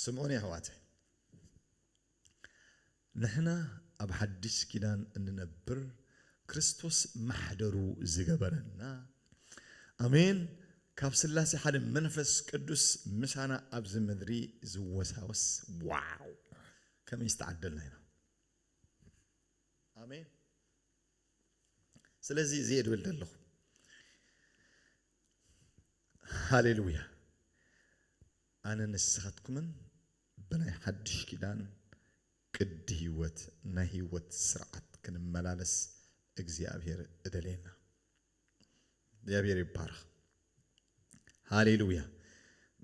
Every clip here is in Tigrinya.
ስምዑኒ ኣሕዋተይ ንሕና ኣብ ሓድሽ ኪዳን እንነብር ክርስቶስ ማሕደሩ ዝገበረና ኣሜን ካብ ስላሴ ሓደ መንፈስ ቅዱስ ምሳና ኣብዚ ምድሪ ዝወሳወስ ዋው ከመይ ዝተዓደልና ኢና ኣሜን ስለዚ እዚ ድብል ደለኹ ሃሌሉያ ኣነ ንስኻትኩምን ብናይ ሓድሽ ኪዳን ቅዲ ህይወት ናይ ህይወት ስርዓት ክንመላለስ እግዚኣብሔር እደልየና እግዚኣብሔር ይባረኽ ሃሌሉያ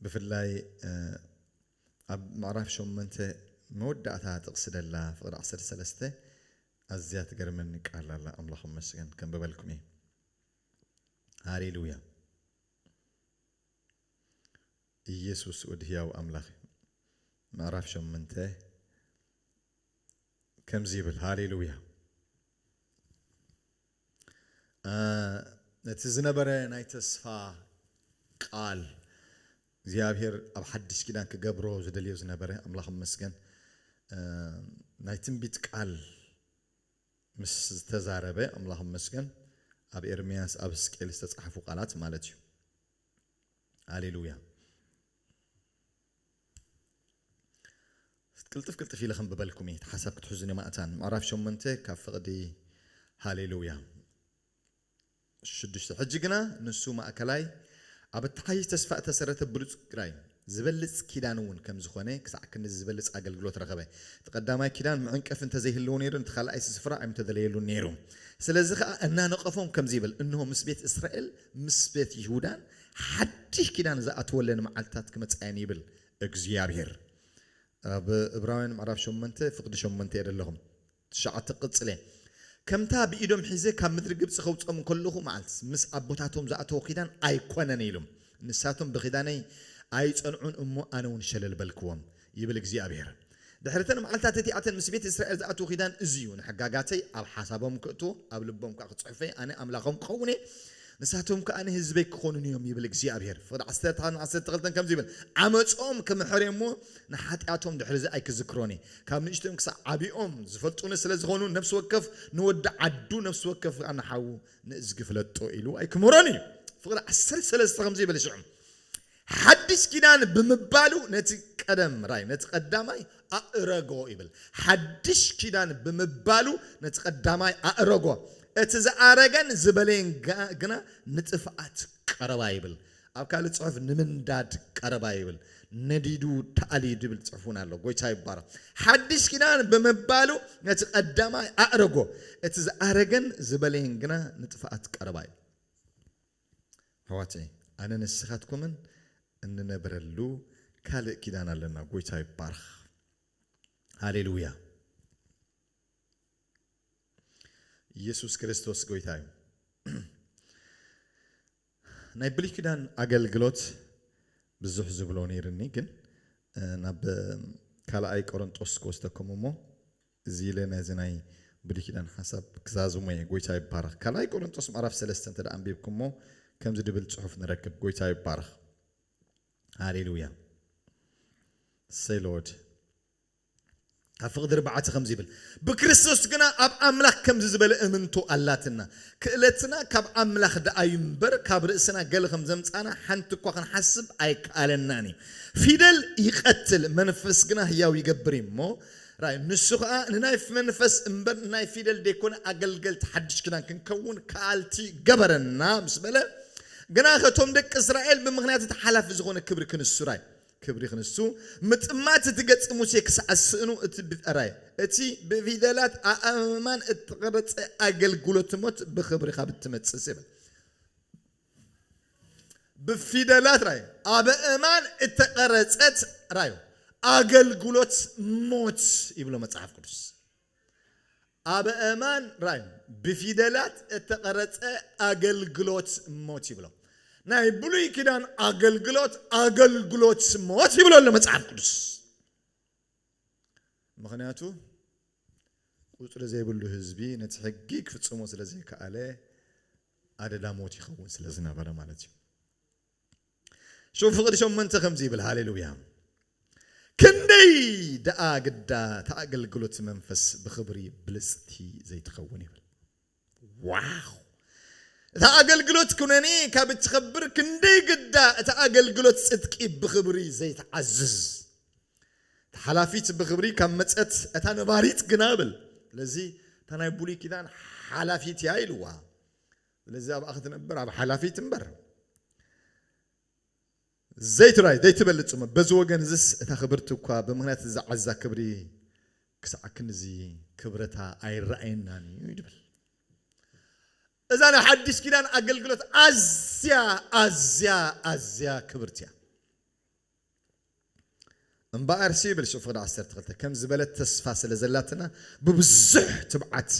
ብፍላይ ኣብ ምዕራፍ ሸሞንተ መወዳእታ ጥቕሲ ደላ ፍቕዲ ዓሰርተ ሰለስተ ኣዝያ ትገርመኒ ቃል ኣላ ኣምላኽ መስገን ከንብበልኩም እየ ሃሌሉያ ኢየሱስ ወዲ ህያው ኣምላኽ ምዕራፍ ሸምንተ ከምዚ ይብል ሃሌሉያ ነቲ ዝነበረ ናይ ተስፋ ቃል እግዚኣብሔር ኣብ ሓድሽ ኪዳን ክገብሮ ዝደልዮ ዝነበረ ኣምላኽ ይመስገን ናይ ትንቢት ቃል ምስ ዝተዛረበ ኣምላኽ ይመስገን ኣብ ኤርምያስ ኣብ ሕዝቅኤል ዝተጻሕፉ ቃላት ማለት እዩ ሃሌሉያ ቅልጥፍ ቅልጥፍ ኢለ ከንብበልኩም እየ እቲ ሓሳብ ክትሕዙን እዮም ኣእታን ምዕራፍ ሸሞንተ ካብ ፍቕዲ ሃሌሉያ ሽዱሽተ ሕጂ ግና ንሱ ማእከላይ ኣብ እተሓይሽ ተስፋ እተሰረተ ብሉፅ ግራይ ዝበልፅ ኪዳን እውን ከም ዝኾነ ክሳዕ ክንዚ ዝበልፅ ኣገልግሎት ረኸበ። እቲ ቀዳማይ ኪዳን መዐንቀፊ እንተዘይህልዎ ነይሩ ነቲ ካልኣይሲ ስፍራ ኣይምተደለየሉን ነይሩ። ስለዚ ኸዓ እናነቐፎም ከምዚ ይብል እንሆ ምስ ቤት እስራኤል ምስ ቤት ይሁዳን ሓድሽ ኪዳን ዝኣትወለን መዓልትታት ክመጻ እየን ይብል እግዚኣብሄር። ኣብ እብራውያን ምዕራፍ ሸሞንተ ፍቅዲ ሸሞንተ እየ ደለኹም ትሽዓተ ክቅጽል እየ ከምታ ብኢዶም ሒዘ ካብ ምድሪ ግብጺ ከውጽኦም ከለኹ መዓልት ምስ ኣቦታቶም ዝኣተዎ ኪዳን ኣይኮነን ኢሉም ንሳቶም ብኪዳነይ ኣይጸንዑን እሞ ኣነውን ሸለል በልክዎም ይብል እግዚኣብሄር። ድሕሪ እተን መዓልትታት እቲኣተን ምስ ቤት እስራኤል ዝኣትዎ ኪዳን እዚ እዩ፣ ንሕጋጋተይ ኣብ ሓሳቦም ከእትዎ፣ ኣብ ልቦም ከኣ ክጽሕፎ እየ፣ ኣነ ኣምላኾም ክኸውን እየ፣ ንሳቶም ከኣ ንህዝበይ ክኾኑኒ እዮም ይብል እግዚኣብሄር። ፍቕዲ ዓሰርተ ሓደን ዓሰርተ ክልተን ከምዚ ይብል፣ ዓመጾም ክምሕር እየ እሞ፣ ንሓጢኣቶም ድሕርዚ ኣይክዝክሮን እየ። ካብ ንእሽቶኦም ክሳዕ ዓቢኦም ዝፈልጡኒ ስለ ዝዀኑ፣ ነፍሲ ወከፍ ንወዲ ዓዱ፣ ነፍሲ ወከፍ ከኣ ንሓዉ ንእዝጊ ፍለጦ ኢሉ ኣይክምህሮን እዩ። ፍቕዲ ዓሰርተ ሰለስተ ከምዚ ይብል፣ ሽዑ። ሓዲስ ኪዳን ብምባሉ ነቲ ቀደም ራይ ነቲ ቀዳማይ ኣእረጎ ይብል። ሓዲሽ ኪዳን ብምባሉ ነቲ ቀዳማይ ኣእረጎ እቲ ዝኣረገን ዝበለየን ግና ንጥፍኣት ቀረባ ይብል። ኣብ ካልእ ጽሑፍ ንምንዳድ ቀረባ ይብል። ነዲዱ ተኣልዩ ድብል ጽሑፍ እውን ኣሎ። ጎይታ ይባረኽ። ሓዲሽ ኪዳን ብምባሉ ነቲ ቀዳማይ ኣእረጎ እቲ ዝኣረገን ዝበለየን ግና ንጥፍኣት ቀረባ ይብል። ኣሕዋተይ ኣነ ንስካትኩምን እንነብረሉ ካልእ ኪዳን ኣለና ጎይታ ይባረክ ሃሌሉያ ኢየሱስ ክርስቶስ ጎይታ እዩ ናይ ብሉይ ኪዳን ኣገልግሎት ብዙሕ ዝብሎ ነይርኒ ግን ናብ ካልኣይ ቆሮንጦስ ክወስደኩም እሞ እዚ ኢለ ነዚ ናይ ብሉይ ኪዳን ሓሳብ ክዛዝሞ እየ። ጎይታ ይባረኽ። ካልኣይ ቆረንጦስ ምዕራፍ ሰለስተ እንተ ኣንቢብኩሞ ከምዚ ድብል ጽሑፍ ንረክብ። ጎይታ ይባረኽ። ሃሌሉያ። እሰይ ሎርድ። ኣብ ፍቅዲ ርብዓተ ከምዚ ይብል ብክርስቶስ ግና ኣብ ኣምላኽ ከምዚ ዝበለ እምንቶ ኣላትና። ክእለትና ካብ ኣምላኽ ደኣ እዩ እምበር ካብ ርእስና ገለ ከም ዘምጻና ሓንቲ እኳ ክንሓስብ ኣይከኣለናን እዩ። ፊደል ይቀትል መንፈስ ግና ህያው ይገብር እዩ እሞ ራእዩ ንሱ ከኣ ንናይ መንፈስ እምበር ናይ ፊደል ደይኮነ ኣገልገልቲ ሓድሽ ኪዳን ክንከውን ከኣልቲ ገበረና ምስ በለ ግናኸ እቶም ደቂ እስራኤል ብምኽንያት እቲ ሓላፊ ዝኾነ ክብሪ ክንሱ ራይ ክብሪ ክንሱ ምጥማት እቲ ገጽ ሙሴ ክሳዕ ዝስእኑ እቲ ራይ እቲ ብፊደላት ኣእማን እተቐረጸ ኣገልግሎት ሞት ብኽብሪ ካብ እትመጽእ ይብል ብፊደላት ራዩ ኣበእማን እተቐረጸት ራዩ ኣገልግሎት ሞት ይብሎ መጽሓፍ ቅዱስ ኣበእማን ራዩ ብፊደላት እተቐረጸ ኣገልግሎት ሞት ይብሎ ናይ ብሉይ ኪዳን ኣገልግሎት ኣገልግሎት ሞት ይብሎ ኣሎ መጽሓፍ ቅዱስ ምኽንያቱ ቁጽሪ ዘይብሉ ህዝቢ ነቲ ሕጊ ክፍጽሞ ስለ ዘይከኣለ ኣደዳ ሞት ይኸውን ስለ ዝነበረ ማለት እዩ። ሽው ፍቕዲ ሸመንተ ከምዚ ይብል ሃሌሉያ ክንደይ ደኣ ግዳ ተኣገልግሎት መንፈስ ብኽብሪ ብልጽቲ ዘይትኸውን ይብል። ዋው እታ ኣገልግሎት ኩነኔ ካብ እትኸብር ክንደይ ግዳ እታ ኣገልግሎት ጽድቂ ብኽብሪ ዘይትዓዝዝ። እታ ሓላፊት ብኽብሪ ካብ መጸት እታ ነባሪት ግና ብል ስለዚ እታ ናይ ብሉይ ኪዳን ሓላፊት እያ ኢልዋ ስለዚ ኣብኣ ክትነብር ኣብ ሓላፊት እምበር ዘይትራይ ዘይትበልጽ ጽምእ በዚ ወገን እዝስ እታ ክብርቲ እኳ ብምክንያት እዚ ዝዓዛ ክብሪ ክሳዕ ክንድዚ ክብረታ ኣይረኣየናን እዩ ድብል እዛ ናይ ሓዲሽ ኪዳን ኣገልግሎት ኣዝያ ኣዝያ ኣዝያ ክብርቲ እያ እምበኣርሲ ይብል ስእሊ ፍቕዲ ዓሰርተ ክልተ፣ ከም ዝበለት ተስፋ ስለ ዘላትና ብብዙሕ ትብዓት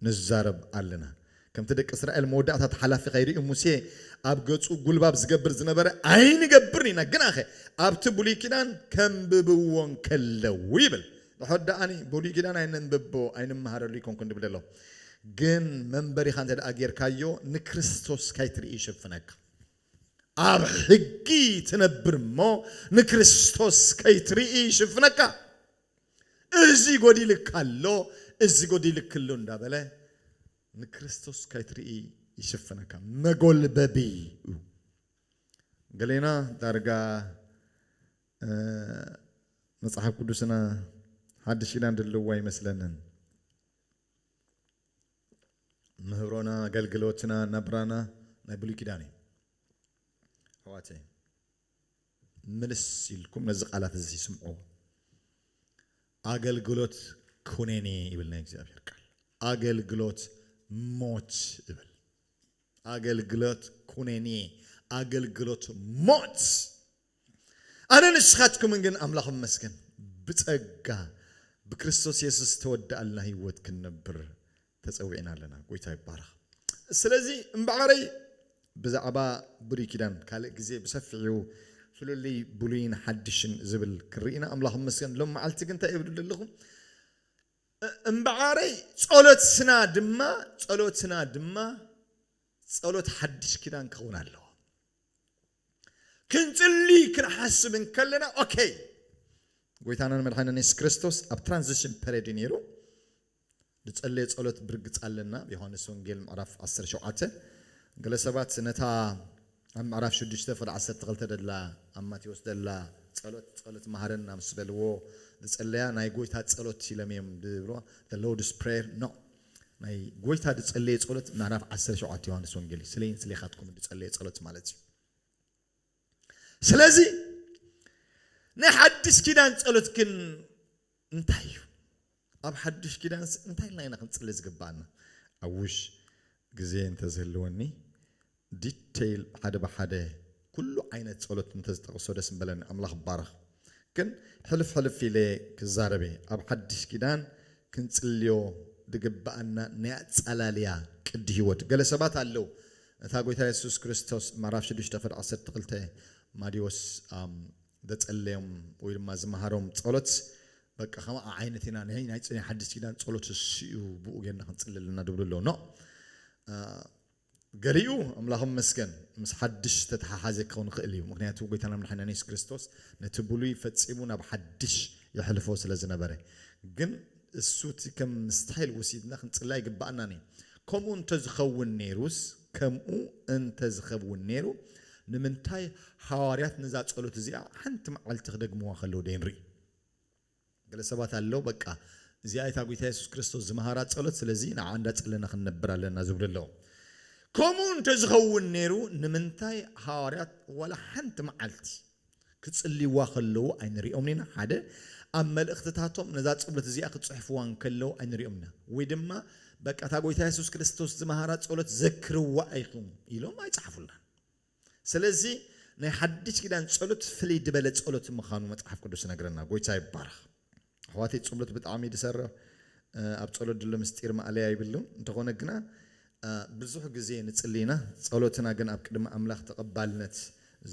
ንዛረብ ኣለና። ከምቲ ደቂ እስራኤል መወዳእታ እቲ ሓላፊ ከይርእዩ ሙሴ ኣብ ገጹ ጉልባብ ዝገብር ዝነበረ ኣይንገብርን ኢና፣ ግናኸ ኣብቲ ብሉይ ኪዳን ከንብብዎ እንከለዉ ይብል። ንሕድ ደኣኒ ብሉይ ኪዳን ኣይነንብቦ ኣይንመሃረሉ ኣይኮንኩን ድብል ደለኹ፣ ግን መንበሪኻ እንተደኣ ጌርካዮ ንክርስቶስ ካይትርኢ ይሽፍነካ። ኣብ ሕጊ ትነብር እሞ ንክርስቶስ ከይትርኢ ይሽፍነካ። እዚ ጎዲልካ ኣሎ እዚ ጎዲልኪ ኣሎ እንዳበለ ንክርስቶስ ከይትርኢ ይሽፍነካ መጎልበቢ እዩ። ገሌና ዳርጋ መጽሓፍ ቅዱስና ሓድሽ ኪዳን ድልዎ ኣይመስለንን። ምህሮና ኣገልግሎትና ናብራና ናይ ብሉይ ኪዳን እዩ ኣሕዋተይ ምልስ ኢልኩም ነዚ ቃላት እዚ ስምዑዎ ኣገልግሎት ኩነኔ ይብል ናይ እግዚኣብሔር ቃል ኣገልግሎት ሞት ይብል ኣገልግሎት ኩነኔ ኣገልግሎት ሞት ኣነን ንስኻትኩምን ግን ኣምላኽ ይመስገን ብጸጋ ብክርስቶስ የሱስ ዝተወደኣልና ህይወት ክንነብር ተጸዊዕና ኣለና። ጎይታ ይባረኽ። ስለዚ እምበኣረይ ብዛዕባ ብሉይ ኪዳን ካልእ ግዜ ብሰፊሑ ፍልልይ ብሉይን ሓድሽን ዝብል ክንርኢና ኣምላኽ ይመስገን። ሎም መዓልቲ ግን እንታይ እብል ደለኹ እምበኣረይ ጸሎትና ድማ ጸሎትና ድማ ጸሎት ሓድሽ ኪዳን ክኸውን ኣለዎ። ክንጽሊ ክንሓስብ እንከለና ኦኬ ጎይታናን መድሓኒናን የሱስ ክርስቶስ ኣብ ትራንዚሽን ፐሬድ እዩ ነይሩ ዝጸለየ ጸሎት ብርግጽ ኣለና ኣብ ዮሃንስ ወንጌል ምዕራፍ 17 ገለ ሰባት ነታ ኣብ ምዕራፍ 6 ፍል 12 ደላ ኣብ ማቴዎስ ደላ ጸሎት ጸሎት መሃረና ምስ በልዎ ዝጸለያ ናይ ጎይታ ጸሎት ኢሎም እዮም ዝብልዋ the lord's prayer no ናይ ጎይታ ድጸለየ ጸሎት ምዕራፍ ዓሰርተ ሸውዓተ ዮሐንስ ወንጌል እዩ ስለይን ስሌኻትኩምን ድጸለየ ጸሎት ማለት እዩ ስለዚ ናይ ሓድሽ ኪዳን ጸሎት ግን እንታይ እዩ ኣብ ሓድሽ ኪዳንስ እንታይ ኢልና ኢና ክንጽሊ ዝግባኣና ኣብ ውሽ ግዜ እንተዝህልወኒ detail ሓደ ብሓደ ኩሉ ዓይነት ጸሎት እንተዝጠቅሶ ደስ ምበለኒ ኣምላኽ ይባረኽ ግን ሕልፍ ሕልፍ ኢለ ክዛረብ እየ ኣብ ሓድሽ ኪዳን ክንጽልዮ ድግበኣና ናይ ኣጻላልያ ቅዲ ሂወት ገለ ሰባት ኣለው እታ ጎይታ የሱስ ክርስቶስ ምዕራፍ ሽዱሽተ ቅዲ ዓሰርተ ክልተ ማዲዎስ ዘጸለዮም ወይ ድማ ዝመሃሮም ጸሎት በቃ ከምኣ ዓይነት ኢና ናይ ናይ ሓድሽ ኪዳን ጸሎት እሱ እዩ ብኡ ጌርና ክንጽሊ ኣለና ድብሉ ኣለው ኖእ ገሊኡ ኣምላኹ ይመስገን ምስ ሓድሽ ዝተተሓሓዘ ክኸውን ይኽእል እዩ፣ ምኽንያቱ ጐይታና መድሓኒናን የሱስ ክርስቶስ ነቲ ብሉይ ፈጺሙ ናብ ሓድሽ የሕልፎ ስለ ዝነበረ። ግን እሱ እቲ ከም ስታይል ወሲድና ክንጽላ ኣይግብኣናን እዩ። ከምኡ እንተ ዝኸውን ነይሩስ ከምኡ እንተ ዝኸብውን ነይሩ ንምንታይ ሃዋርያት ነዛ ጸሎት እዚኣ ሓንቲ መዓልቲ ክደግምዋ ከለዉ ደይንርኢ? ገለ ሰባት ኣለዉ በቃ እዚኣ እታ ጎይታ የሱስ ክርስቶስ ዝመሃራ ጸሎት ስለዚ ንዓ እንዳ ጸለና ክንነብር ኣለና ዝብሉ ኣለዉ። ከምኡ እንተ ዝኸውን ነይሩ ንምንታይ ሃዋርያት ዋላ ሓንቲ መዓልቲ ክጽልይዋ ከለዉ ኣይንሪኦምን ኢና ሓደ ኣብ መልእኽትታቶም ነዛ ጸሎት እዚኣ ክጽሕፍዋ እንከለዉ ኣይንሪኦምን ኢና ወይ ድማ በቃ እታ ጎይታ የሱስ ክርስቶስ ዝመሃራ ጸሎት ዘክርዋ ኢኹም ኢሎም ኣይጸሓፉላን። ስለዚ ናይ ሓድሽ ኪዳን ጸሎት ፍልይ ድበለ ጸሎት ምካኑ መጽሓፍ ቅዱስ ይነግረና ጎይታ ይባረክ ኣሕዋተይ ጽሎት ብጣዕሚ እዩ ድሰርሕ ኣብ ጸሎት ድሎ ምስጢር ማእለያ ይብሉን እንተኮነ ግና ብዙሕ ግዜ ንጽሊ ኢና ጸሎትና ግን ኣብ ቅድሚ ኣምላክ ተቀባልነት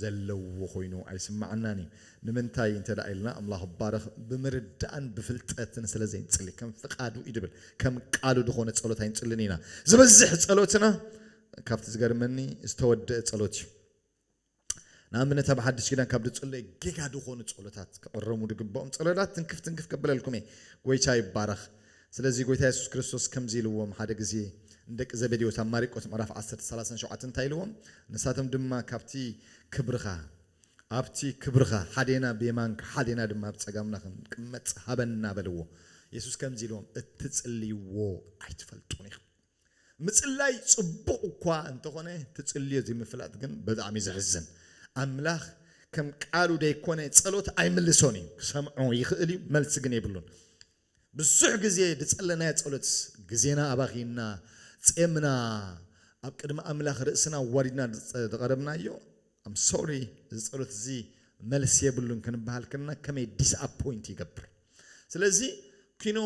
ዘለዎ ኮይኑ ኣይስማዓናን እዩ ንምንታይ እንተ ኢልና ኣምላክ ይባረክ ብምርዳእን ብፍልጠትን ስለ ዘይንጽሊ ከም ፍቃዱ እዩ ድብል ከም ቃሉ ድኮነ ጸሎት ኣይንጽልን ኢና ዝበዝሕ ጸሎትና ካብቲ ዝገርመኒ ዝተወደእ ጸሎት እዩ ንኣብነት ኣብ ሓድሽ ኪዳን ካብ ድጽለይ ጌጋ ድኾኑ ጸሎታት ክቕረሙ ድግብኦም ጸሎታት ትንክፍ ትንክፍ ከበለልኩም እየ ጎይታ ይባረኽ ስለዚ ጎይታ የሱስ ክርስቶስ ከምዚ ኢልዎም ሓደ ግዜ ንደቂ ዘበዴዎስ ኣብ ማሪቆስ ምዕራፍ 10 37 እንታይ ኢልዎም ንሳቶም ድማ ካብቲ ክብርኻ ኣብቲ ክብርኻ ሓዴና ብየማንካ ሓዴና ድማ ኣብ ጸጋምና ክንቅመጥ ሃበና በልዎ የሱስ ከምዚ ኢልዎም እትጽልይዎ ኣይትፈልጡን ኢኹም ምጽላይ ጽቡቅ እኳ እንተኾነ ትጽልዮ ዘይምፍላጥ ግን በጣዕሚ ዘሕዝን ኣምላኽ ከም ቃሉ ደይኮነ ጸሎት ኣይምልሶን እዩ ክሰምዖ ይኽእል እዩ መልሲ ግን የብሉን ብዙሕ ግዜ ድጸለናዮ ጸሎት ግዜና ኣባኺና ጼምና ኣብ ቅድሚ ኣምላኽ ርእስና ኣዋሪድና ድቐረብናዮ I'm sorry እዚ ጸሎት እዚ መልሲ የብሉን ክንበሃል ከለና ከመይ ዲስኣፖይንት ይገብር። ስለዚ ኪኖ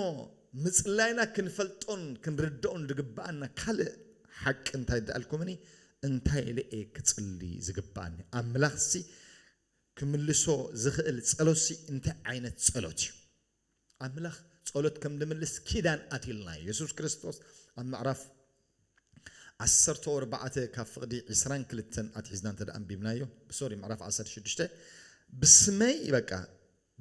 ምጽላይና ክንፈልጦን ክንርድኦን ዝግብኣና ካልእ ሓቂ እንታይ ድኣልኩምኒ እንታይ ኢለ እየ ክጽሊ ዝግብኣኒ ኣምላኽሲ ክምልሶ ዝኽእል ጸሎትሲ እንታይ ዓይነት ጸሎት እዩ ኣምላኽ ጸሎት ከም ዝምልስ ኪዳን ኣትዩልና እዩ። የሱስ ክርስቶስ ኣብ ምዕራፍ ዓሰርተው ኣርባዕተ ካብ ፍቕዲ ዕስራን ክልተን ኣትሒዝና እንተ ኣንቢብናዮ ሶሪ ምዕራፍ ዓሰርተ ሽዱሽተ ብስመይ በቃ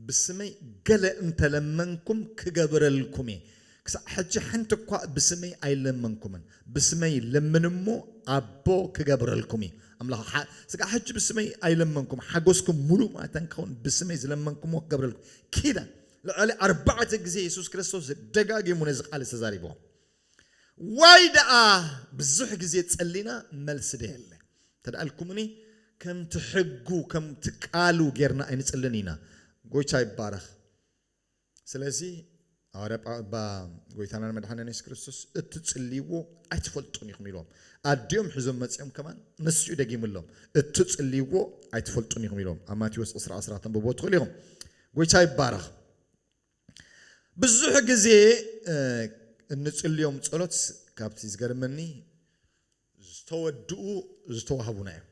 ብስመይ ገለ እንተለመንኩም ክገብረልኩም እየ ክሳዕ ሕጂ ሓንቲ እኳ ብስመይ ኣይለመንኩምን፣ ብስመይ ለምኑ እሞ ኣቦ ክገብረልኩም እዩ። ኣምላኽ ሓ ስጋዕ ሕጂ ብስመይ ኣይለመንኩም፣ ሓጎስኩም ምሉእ ማእታ እንክኸውን ብስመይ ዝለመንኩምዎ ክገብረልኩም ኪዳን ልዕሊ ኣርባዕተ ግዜ የሱስ ክርስቶስ ደጋጊሙ ነዚ ቃል እዚ ተዛሪብዎ። ዋይ ደኣ ብዙሕ ግዜ ጸሊና መልሲ ደየለ። እንተ ኢልኩምኒ ከምቲ ሕጉ ከምቲ ቃሉ ጌርና ኣይንጽልን ኢና። ጎይታ ይባረኽ። ስለዚ ሃዋርያ ጳው እባ ጎይታናን መድሓኒና የሱስ ክርስቶስ እትጽልይዎ ኣይትፈልጡን ኢኹም ኢልዎም። ኣዲኦም ሒዞም መጺኦም ከማን ንሱ'ዩ ደጊምሎም እትጽልይዎ ኣይትፈልጡን ኢኹም ኢልዎም። ኣብ ማቴዎስ ዕስራ ዕስራ ከተንብብዎ ትኽእሉ ኢኹም። ጎይታ ይባረኽ። ብዙሕ ግዜ እ፣ እንጽልዮም ጸሎት ካብቲ ዝገርመኒ ዝተወድኡ ዝተዋህቡና እዮም።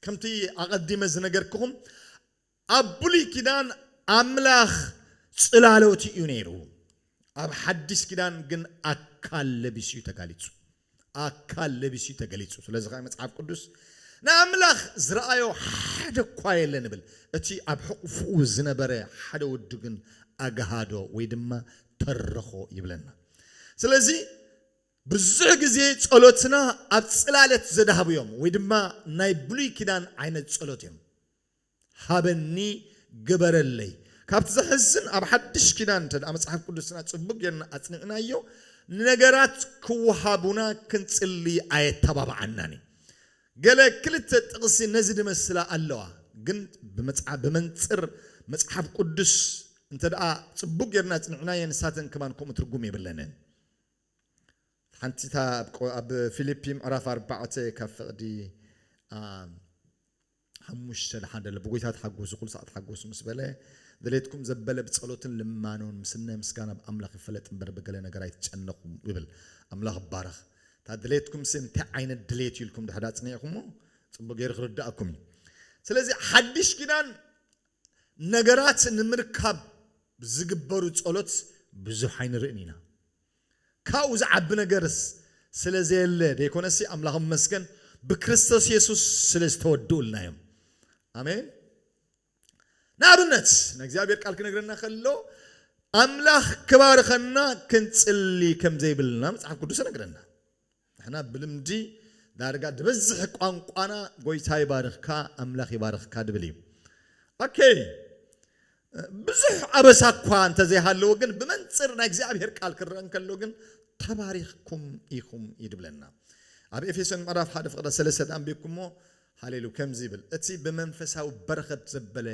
ከምቲ ኣቐዲመ ዝነገርክኹም ኣብ ብሉይ ኪዳን ኣምላኽ ጽላሎት እዩ ነይሩ፣ ኣብ ሓዲስ ኪዳን ግን ኣካል ለቢሱ እዩ ተጋሊጹ፣ ኣካል ለቢሱ እዩ ተገሊጹ፣ ስለዚ ከኣ መጽሓፍ ቅዱስ ንኣምላኽ ዝረኣዮ ሓደ እኳ የለን ይብል፣ እቲ ኣብ ሕቑፍኡ ዝነበረ ሓደ ወዱ ግን ኣግሃዶ ወይ ድማ ተረኾ ይብለና። ስለዚ ብዙሕ ግዜ ጸሎትና ኣብ ጽላለት ዘድሃቡ እዮም ወይ ድማ ናይ ብሉይ ኪዳን ዓይነት ጸሎት እዮም። ሃበኒ ግበረለይ ካብቲ ዘሕዝን ኣብ ሓድሽ ኪዳን እንተ መጽሓፍ ቅዱስና ጽቡቅ ጌርና ኣጽኒዕናዮ ንነገራት ክወሃቡና ክንጽሊ ኣየተባብዓናን እዩ ገለ ክልተ ጥቅሲ ነዚ ድመስላ ኣለዋ ግን ብመንጽር መጽሓፍ ቅዱስ እንተ ጽቡቅ ጌርና ኣጽኒዕናየን ንሳተን ከማን ከምኡ ትርጉም የብለንን ሓንቲ እታ ኣብ ፊልፒ ምዕራፍ ኣርባዕተ ካብ ፍቅዲ ሓሙሽተ ንሓደ ልብ ጐይታ ተሓጐሱ ኵሉ ሳዕ ተሓጐሱ ምስ በለ ድሌትኩም ዘበለ ብጸሎትን ልማኖን ምስናይ ምስጋና ብ ኣምላኽ ይፈለጥ እምበር ብገለ ነገር ኣይትጨነቑ ይብል ኣምላኽ ይባረኽ እታ ድሌትኩምሲ እንታይ ዓይነት ድሌት እዩ ኢልኩም ድሕሪ ኣጽኒዕኩሞ ጽቡቕ ገይሩ ክርድኣኩም እዩ ስለዚ ሓድሽ ኪዳን ነገራት ንምርካብ ዝግበሩ ጸሎት ብዙሕ ኣይንርእን ኢና ካብኡ ዝዓቢ ነገርስ ስለ ዘየለ ደይኰነሲ፣ ኣምላኽ ይመስገን፣ ብክርስቶስ የሱስ ስለ ዝተወድኡልና እዮም። ኣሜን። ንኣብነት፣ ናይ እግዚኣብሄር ቃል ክነግረና ከሎ፣ ኣምላኽ ክባርኸና ክንጽሊ ከም ዘይብልና መጽሓፍ ቅዱስ ይነግረና። ንሕና ብልምዲ ዳርጋ ድበዝሕ ቋንቋና ጎይታ ይባርኽካ ኣምላኽ ይባርኽካ ድብል እዩ ኣከይ ብዙሕ ኣበሳ እኳ እንተዘይሃለዎ ግን ብመንፅር ናይ እግዚኣብሔር ቃል ክረአ እንከሎ ግን ተባሪኽኩም ኢኹም እዩ ድብለና ኣብ ኤፌሶን ምዕራፍ ሓደ ፍቕረ ሰለስተ ዳንቢብኩሞ ሃሌ ሉ ከምዚ ይብል እቲ ብመንፈሳዊ በረኸት ዘበለ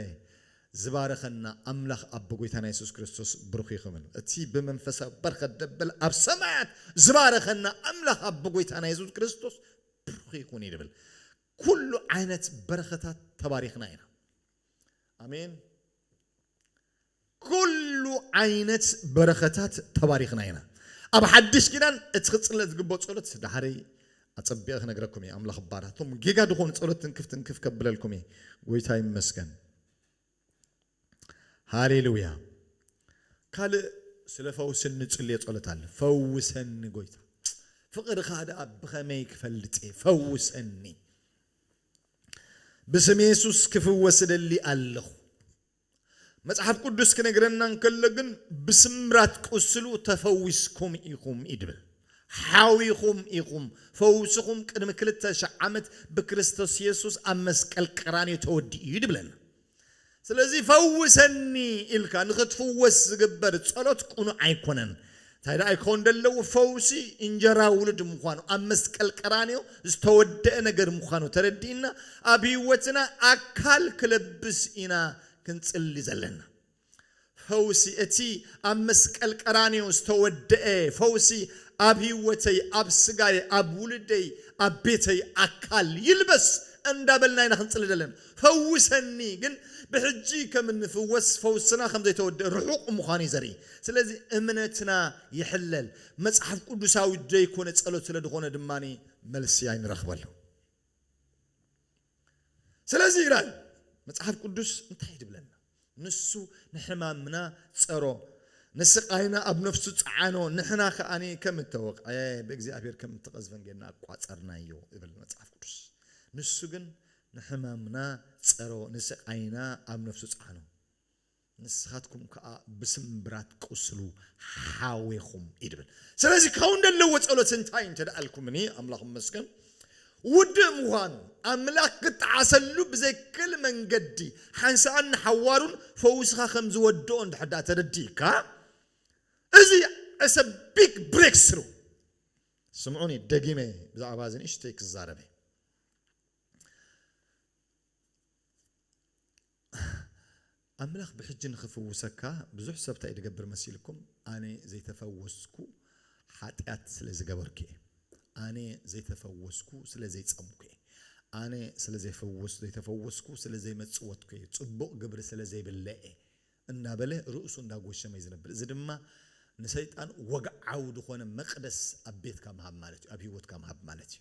ዝባረኸና ኣምላኽ ኣቦ ጎይታና የሱስ ክርስቶስ ብሩኽ ይኽን እቲ ብመንፈሳዊ በረኸት ደበለ ኣብ ሰማያት ዝባረኸና ኣምላኽ ኣቦ ጎይታና የሱስ ክርስቶስ ብሩኽ ይኹን ይብል ኩሉ ዓይነት በረኸታት ተባሪኽና ኢና ኣሜን ኩሉ ዓይነት በረኸታት ተባሪኽና ኢና። ኣብ ሓድሽ ኪዳን እቲ ክጽለ ዝግብኦ ጸሎት ድሓረይ ኣጸቢቐ ክነግረኩም እየ ኣምላኽ ባራት እቶም ጌጋ ድኾኑ ጸሎት ትንክፍ ትንክፍ ከብለልኩም እየ ጎይታ ይመስገን ሃሌሉያ ካልእ ስለ ፈውሲ እንጽልዮ ጸሎት ኣለ ፈውሰኒ ጎይታ ፍቕርኻ ደኣ ብኸመይ ክፈልጥ እየ ፈውሰኒ ብስም የሱስ ክፍወስ እደሊ ኣለኹ መጽሓፍ ቅዱስ ክነግረና እንከሎ ግን ብስምራት ቁስሉ ተፈዊስኩም ኢኹም እዩ ድብል። ሓዊኹም ኢኹም። ፈውስኹም ቅድሚ ክልተ ሽሕ ዓመት ብክርስቶስ የሱስ ኣብ መስቀል ቀራንዮ ተወዲኡ እዩ ድብለና። ስለዚ ፈውሰኒ ኢልካ ንኽትፍወስ ዝግበር ጸሎት ቅኑዕ ኣይኮነን። እንታይ ደኣ ይከውን ደለዉ ፈውሲ እንጀራ ውሉድ ምዃኑ ኣብ መስቀል ቀራንዮ ዝተወደኣ ነገር ምዃኑ ተረዲእና ኣብ ህይወትና ኣካል ክለብስ ኢና ክንጽሊ ዘለና ፈውሲ እቲ ኣብ መስቀል ቀራንዮ ዝተወደኣ ፈውሲ ኣብ ህይወተይ ኣብ ስጋየ ኣብ ውሉደይ ኣብ ቤተይ ኣካል ይልበስ እንዳበልና ኢና ክንጽሊ ዘለና ፈውሰኒ ግን ብሕጂ ከም እንፍወስ ፈውስና ከም ዘይተወድኤ ርሑቕ ምዃኑ እዩ ዘርኢ። ስለዚ እምነትና ይሕለል። መጽሓፍ ቅዱሳዊ ዘይኮነ ጸሎት ስለ ድኾነ ድማ መልሲ ኣይንረኽበሉ። ስለዚ ይላል መጽሓፍ ቅዱስ እንታይ እዩ ድብለና? ንሱ ንሕማምና ጸሮ፣ ንስቓይና ኣብ ነፍሱ ጸዓኖ፣ ንሕና ከኣ ከም እተወቕዐ፣ ብእግዚኣብሄር ከም እተቐዝፈን ጌርና ቈጸርናዮ ይብል መጽሓፍ ቅዱስ። ንሱ ግን ንሕማምና ጸሮ፣ ንስቓይና ኣብ ነፍሱ ጸዓኖ። ንስኻትኩም ከኣ ብስምብራት ቍስሉ ሓዌኹም እዩ ድብል። ስለዚ ካብኡ እንደለዎ ጸሎት እንታይ እንተ ኢልኩምኒ፣ ኣምላኽ ይመስገን፣ ውድእ ምዃኑ፣ ኣምላኽ ክጠዓሰሉ ብዘይክእል መንገዲ ሓንሳእን ንሓዋሩን ፈዊስኻ ከም ዝወድኦ እንድሕር ደኣ ተረዲእካ፣ እዚ It's a big breakthrough። ስምዑኒ ደጊመ ብዛዕባ እዚ ንእሽተይ ክዛረብ እየ። ኣምላኽ ብሕጂ ንኽፍውሰካ ብዙሕ ሰብ ታይ ድገብር መሲልኩም ኣነ ዘይተፈወስኩ ሓጥያት ስለ ዝገበርኩ እየ ኣነ ዘይተፈወስኩ ስለ ዘይጸምኩ እየ ኣነ ስለ ዘይተፈወስኩ ስለ ዘይመጽወትኩ እየ ጽቡቕ ግብሪ ስለ ዘይብለየ እንዳበለ ርእሱ እንዳጎሸመ እዩ ዝነብር እዚ ድማ ንሰይጣን ወግዓዊ ድኾነ መቅደስ ኣብ ቤትካ ምሃብ ማለት እዩ ኣብ ሂወትካ ምሃብ ማለት እዩ።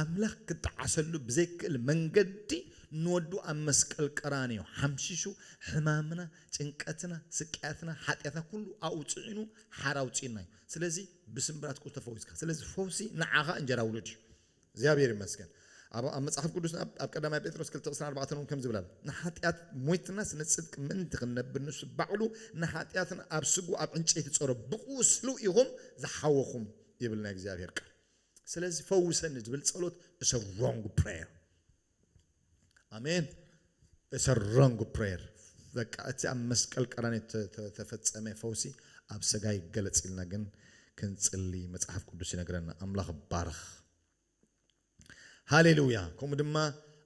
ኣምላኽ ክጠዓሰሉ ብዘይክእል መንገዲ ንወዱ ኣብ መስቀል ቀራንዮ ሓምሺሹ ሕማምና ጭንቀትና ስቅያትና ሓጥያትና ኩሉ ኣብኡ ጽዒኑ ሓራ ኣውጽኡና እዩ ስለዚ ብስምብራት ቁርሲ ተፈዊስካ ስለዚ ፈውሲ ንዓኻ እንጀራ ውሉድ እዩ እግዚኣብሔር ይመስገን ኣብ መጽሓፍ ቅዱስ ኣብ ቀዳማይ ጴጥሮስ ክልተ ዕስራን ኣርባዕተን እውን ከምዚ ብላል ንሓጢኣት ሞይትናስ ንጽድቂ ምእንቲ ክንነብር ንሱ ባዕሉ ንሓጢኣትና ኣብ ስግኡ ኣብ ዕንጨይቲ ጸሮ ብቁስሉ ኢኹም ዝሓወኹም ይብል ናይ እግዚኣብሔር ቃል ስለዚ ፈውሰኒ ዝብል ጸሎት እሰ ሮንግ ፕሬየር ኣሜን እሰ ሮንግ ፕሬየር በቃ እቲ ኣብ መስቀል ቀራንዮ ተፈጸመ ፈውሲ ኣብ ሰጋ ይገለጽ ኢልና ግን ክንጽሊ መጽሓፍ ቅዱስ ይነግረና ኣምላኽ ባርኽ ሃሌሉያ ከምኡ ድማ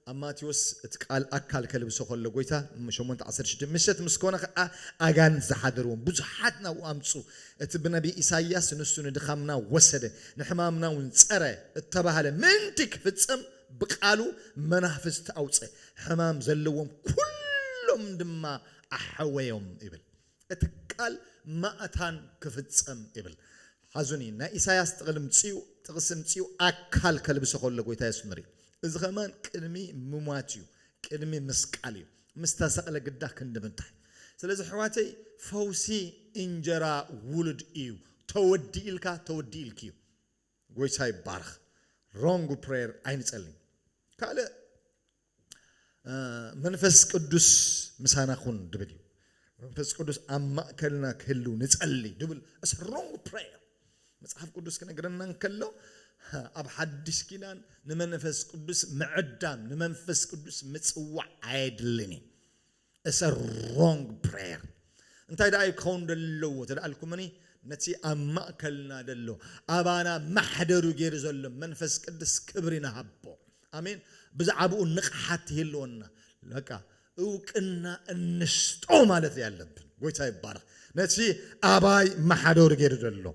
ኣብ ማቴዎስ እቲ ቃል ኣካል ከልብሶ ከሎ ጎይታ ሸሞንተ ዓሰርተ ሽዱሽተ ምሸት ምስ ኮነ ከኣ ኣጋንንት ዝሓደርዎም ብዙሓት ናብኡ ኣምጽኡ እቲ ብነብይ ኢሳይያስ ንሱ ንድኻምና ወሰደ ንሕማምና ውን ጸረ እተባህለ ምእንቲ ክፍጸም ብቃሉ መናፍስት ኣውጸ ሕማም ዘለዎም ኩሎም ድማ ኣሐወዮም ይብል። እቲ ቃል ማእታን ክፍጸም ይብል ሓዙኒ ናይ ኢሳያስ ጥቕሊ ምጽኡ ጥቕሲ ምጽኡ ኣካል ከልብሶ ከሎ ጎይታ የስምር እዩ እዚ ከማን ቅድሚ ምሟት እዩ ቅድሚ ምስቃል እዩ ምስ ተሰቕለ ግዳ ክንዲ ምንታይ ስለዚ ኣሕዋተይ ፈውሲ እንጀራ ውሉድ እዩ ተወዲኢልካ ተወዲኢልኪ እዩ ጎይታ ይባረኽ ሮንግ ፕሬየር ኣይንጸልይ ካልእ መንፈስ ቅዱስ ምሳና ኩን ድብል እዩ መንፈስ ቅዱስ ኣብ ማእከልና ክህልው ንጸሊ ድብል እስ ሮንግ ፕሬየር መጽሓፍ ቅዱስ ክነግረና እንከሎ ኣብ ሓድሽ ኪዳን ንመንፈስ ቅዱስ ምዕዳም ንመንፈስ ቅዱስ ምጽዋዕ ኣየድልን እዩ እስ እ ሮንግ ፕረየር እንታይ ደኣ እዩ ክኸውን ደለዎ ተደኣልኩምኒ ነቲ ኣብ ማእከልና ደሎ ኣባና ማሕደሩ ጌሩ ዘሎ መንፈስ ቅድስ ክብሪ ንሃቦ ኣሜን ብዛዓብኡ ንቕሓት ይህልወና በቃ እውቅና እንስጦ ማለት ደኣ ኣለብን ጎይታ ይባረኽ ነቲ ኣባይ ማሓደሩ ጌሩ ደሎ